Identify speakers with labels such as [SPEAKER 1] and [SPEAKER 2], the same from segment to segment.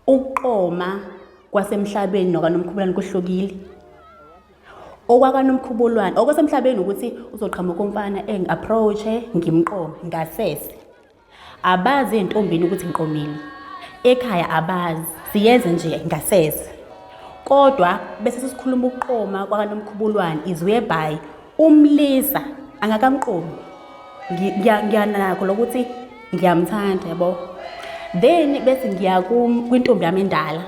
[SPEAKER 1] ukuqoma kwasemhlabeni nokanomkhubulwane kuhlukile okwakanomkhubulwane okwasemhlabeni ukuthi uzoqhamuka umfana engi-approach-e ngimqome ngasese abazi entombini ukuthi ngiqomile ekhaya abazi siyenze nje ngasese kodwa bese sesikhuluma ukuqoma kwakanomkhubulwane izwebhayi umlisa angakamqomi ngiyanako lokuthi ngiyamthanda yabo then bese ngiya kwintombi yami endala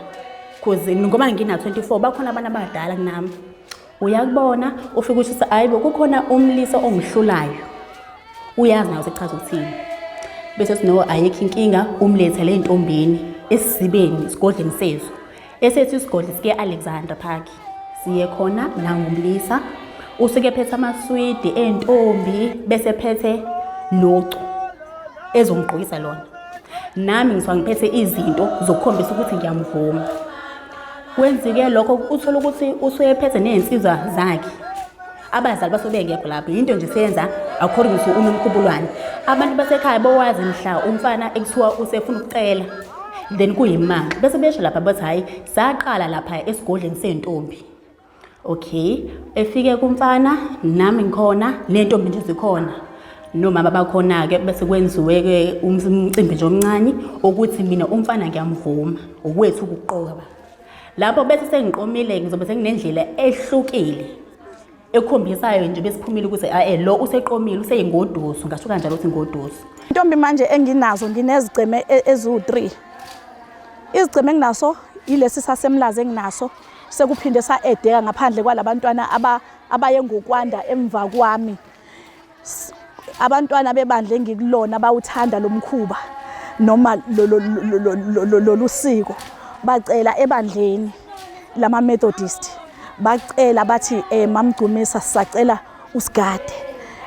[SPEAKER 1] cause ngoba ngina-24 bakhona abantu abadala kunami uyakubona ufike usho ukuthi hayi bo kukhona umlisa ongihlulayo uyazi nayo sekuchaza ukuthini bese sino ayikho inkinga umlethele ey'ntombini esizibeni esigodleni sezo esethu isigodli sike Alexander Park siye khona nangumlisa usuke phethe amaswidi entombi bese phethe nocu ezongigqokisa lona nami ngisuka ngiphethe izinto zokukhombisa ukuthi ngiyamvuma kwenzike lokho uthola ukuthi usuyephethe nezinsizwa zakhe abazali basuke bengekho lapho yinto nje senza according to unomkhubulwane abantu basekhaya bowazi mhla umfana ekuthiwa usefuna ukucela then kuyimanga bese besho lapha bathi hhayi saqala lapha esigodleni sey'ntombi okay efike kumfana nami ngikhona nentombi nje zikhona nomama bakhona-ke bese kwenziwe-ke umcimbi nje omncane ukuthi mina umfana ngiyamvuma ukwethu ukuqoka ba lapho bese sengiqomile ngizobe senginendlela ehlukile ekhombisayo nje besiphumile ukuthi ae lo useqomile useyingoduso ngasho kanjalo ukuthi ngoduso intombi manje
[SPEAKER 2] enginazo nginezigceme e-, eziwu-3 izigceme enginaso yilesi sasemlazi enginaso sekuphinde sa-edeka ngaphandle kwalabantwana abaye ngokwanda emva kwami abantwana bebandla engikulona bawuthanda lo mkhuba noma lolu siko bacela ebandleni lama-methodist bacela bathi um eh, mamgcumisa sisacela usigade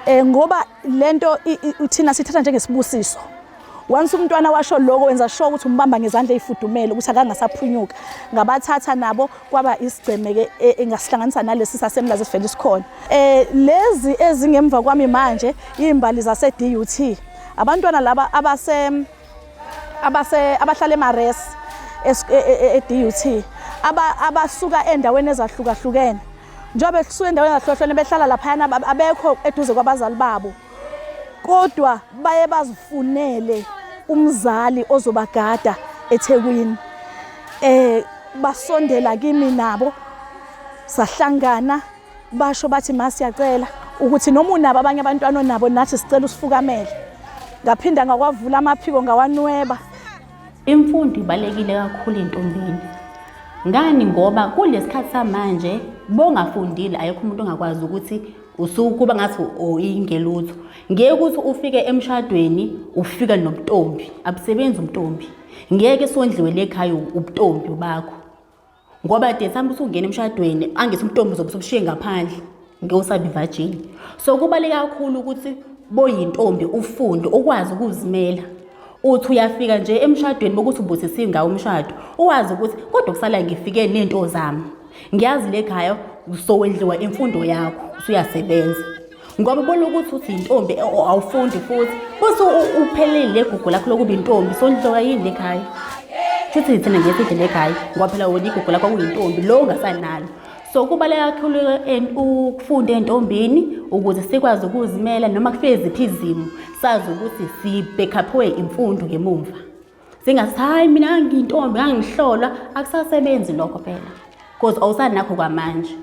[SPEAKER 2] um ngoba le nto thina sithatha njengesibusiso Once umntwana washo lokho wenza sure ukuthi umbamba ngezandla ezifudumele ukuthi akangasaphunyuka. Ngabathatha nabo kwaba isigceme ke e, engasihlanganisa nalesi sasemlazi sivele sikhona. Eh lezi ezingemva kwami manje izimbali zase DUT. Abantwana laba abase abase abahlala emares eDUT e, e, aba abasuka endaweni ezahlukahlukene. Njengoba kusuka endaweni ezahlukahlukene behlala laphayana abekho eduze kwabazali babo. kodwa baye bazifunele umzali ozobagada eThekwini eh basondela kimi nabo sahlangana basho bathi masiyacela ukuthi noma unabo abanye abantwana onabo nathi sicela usifukamele ngaphinda ngakwavula amaphiko ngawanweba imfundo
[SPEAKER 1] ibalekile kakhulu entombini ngani ngoba kulesikhathi samanje bongafundile ayekho umuntu ongakwazi ukuthi usukuba ngathi uyingelutho ngeke ukuthi ufike emshadweni ufika nobuntombi abusebenzi umntombi ngeke sondliwe lekhaya ubuntombi bakho ngoba de sambe usungena emshadweni angithi umntombi uzobe usubushiye ngaphandle ngewusabi virgin so kubaluleke kakhulu ukuthi boyintombi ufunde ukwazi ukuzimela uthi uyafika nje emshadweni bokuthi ubusise ingawo umshado uwazi ukuthi kodwa kusala ngifike nento zami ngiyazi le khaya usowendliwa imfundo yakho usuyasebenza ngoba ubona ukuthi uthi yintombi e, awufundi futhi bese uphelele le gugu lakho lokuba intombi sondliwa yini le khaya futhi ngithina ngiye sidle le khaya ngoba phela wona igugu lakho kuyintombi lo ungasanalo so kubaleka kakhulu ukufunda entombini ukuze sikwazi ukuzimela noma kufike ziphi izimo sazi ukuthi sibhekhaphiwe imfundo ngemumva zingathi hayi mina ngiyintombi angihlolwa akusasebenzi lokho phela because awusanakho kwamanje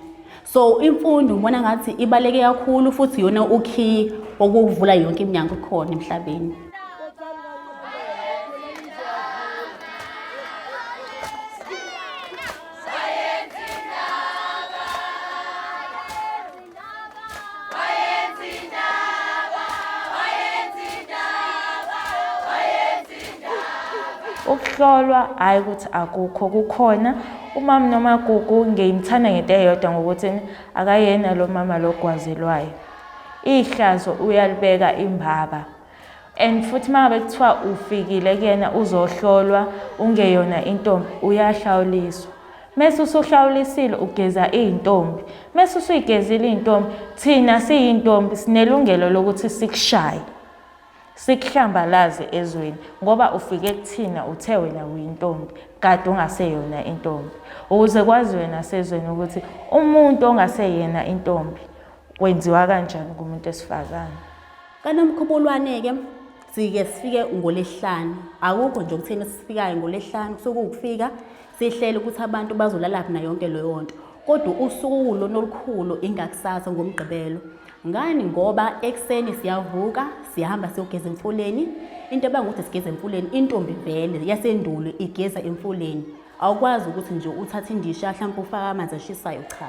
[SPEAKER 1] so imfundo ngibona ngathi ibaleke kakhulu futhi yona ukhiyi okuvula yonke iminyango khona emhlabeni
[SPEAKER 3] ukuhlolwa hhayi ukuthi akukho kukhona umama nomagugu ngiyimthanda ngento eyodwa ngokuthi akayena lo mama logwazelwayo ihlazo uyalibeka imbaba and futhi uma ngabe kuthiwa ufikile kuyena uzohlolwa ungeyona intombi uyahlawuliswa mese usuhlawulisile ugeza iy'ntombi mese usuyigezile iy'ntombi thina siyintombi sinelungelo lokuthi sikushaye sikuhlambalaze ezweni ngoba ufike kuthina uthe wena uyintombi kade ungaseyona intombi ukuze kwaziwe nasezweni ukuthi umuntu ongaseyena intombi wenziwa kanjani kumuntu esifazane kanomkhubulwane-ke
[SPEAKER 1] sike sifike ngolesihlanu akukho nje okutheni sifikayo ngolesihlanu kusuke ukufika sihlele ukuthi abantu bazolalaphi na yonke leyo nto kodwa usuku lona olukhulu ingakusasa ngomgqibelo ngani ngoba ekuseni siyavuka sihamba siyogeza emfuleni into ebanga ukuthi sigeza emfuleni intombi vele yasendulo igeza emfuleni awukwazi ukuthi nje uthathe indisha mhlawumpe ufake amanzi ashisayo cha